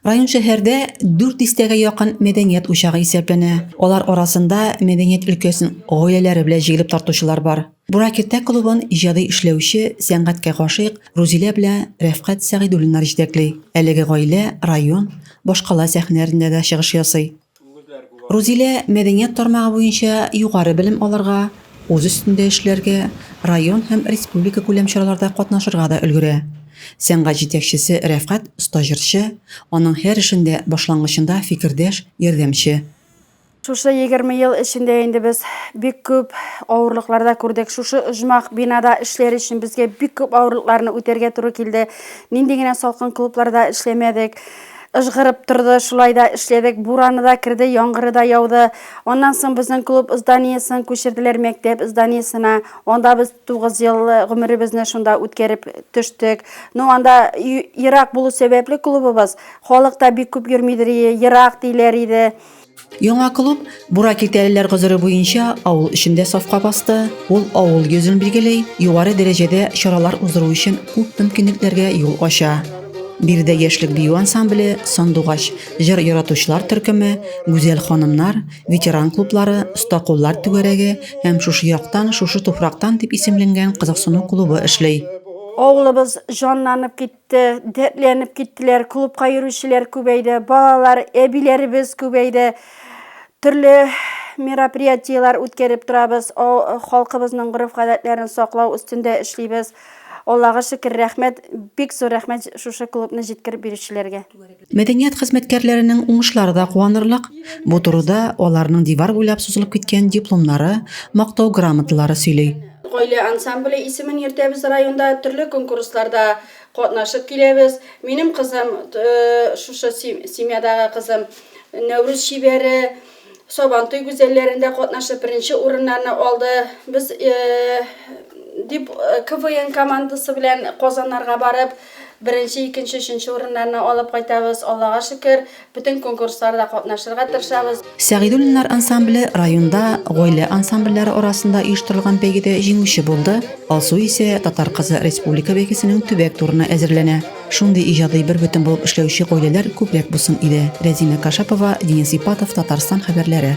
Район шәһәрдә 400 тәгә якын мәдәният учагы исәпләнә. Алар арасында мәдәният өлкәсен гаиләләре белән җигелеп тартучылар бар. Буракиртә клубын иҗади эшләүче, сәнгатькә гашыйк Рузилә белән Рәфкать Сәгыйдуллиннар җитәкли. Әлеге гаилә район, башкала сәхнәләрендә дә чыгыш ясый. Рузилә мәдәният тармагы буенча югары белем алырга, үз өстендә эшләргә, район һәм республикакүләм чараларда катнашырга да өлгерә. Сәнгать җитәкчесе Рәфкать оста җырчы, аның һәр эшендә, башлангычында фикердәш, ярдәмче. Шушы егерме ел эчендә инде без бик күп авырлыклар да күрдек. Шушы оҗмах бинада эшләр өчен безгә бик күп авырлыкларны үтәргә туры килде. Нинди генә салкын клубларда эшләмәдек. Ыжгырып торды, шулай да эшләдек. Бураны да керде, яңгыры да яуды. Аннан соң безнең клуб зданиесен күчерделәр мәктәп зданиесенә. Анда без 9 ел э, гомеребезне шунда үткәреп төштек. Ну, анда ерак булу сәбәпле клубыбыз, халык та бик күп йөрмидер, ерак диләр иде. Яңа клуб Бура киртәлеләр гозере буенча авыл эчендә сафка басты. Ул авыл йөзен билгели, югары дәрәҗәдә чаралар уздыру өчен күп мөмкинлекләргә юл ача. Биредә яшьлек бию ансамбле, сандугач, җыр яратучылар төркеме, гүзәл ханымнар, ветеран клублары, оста куллар түгәрәге һәм шушы яктан, шушы туфрактан дип исемленгән кызыксыну клубы эшли. Авылыбыз җанланып китте. китте, дәртләнеп киттеләр, клубка йөрүчеләр күбәйде, балалар, әбиләребез күбәйде. Төрле мероприятиеләр үткәреп торабыз, халкыбызның гореф-гадәтләрен саклау өстендә эшлибез. Аллага шөкер, рәхмәт, бик зур рәхмәт шушы клубны җиткереп бирүчеләргә. Мәдәният хезмәткәрләренең уңышлары да куанырлык. Бу турыда аларның дивар буйлап сузылып киткән дипломнары, мактау грамоталары сөйли. Гаилә ансамбле исемен йөртәбез районда, төрле конкурсларда катнашып киләбез. Минем кызым, шушы семьядагы кызым, Нәүрүз чибәре. Сабантуй гүзәлләрендә катнашып, беренче урыннарны алды. Без дип КВН командасы белән Казаннарга барып, беренче, икенче, өченче урыннарны алып кайтабыз. Аллага шөкер, бөтен конкурсларда катнашырга тырышабыз. Сәгыйдуллиннар ансамбле районда гаилә ансамбльләре арасында оештырылган бәйгедә җиңүче булды, Алсу исә Татар кызы республика бәйгесенең төбәк турына әзерләнә. Шундый иҗади бербөтен булып эшләүче гаиләләр күбрәк булсын иде. Рәзимә Кашапова, Денис Ипатов, Татарстан хәбәрләре.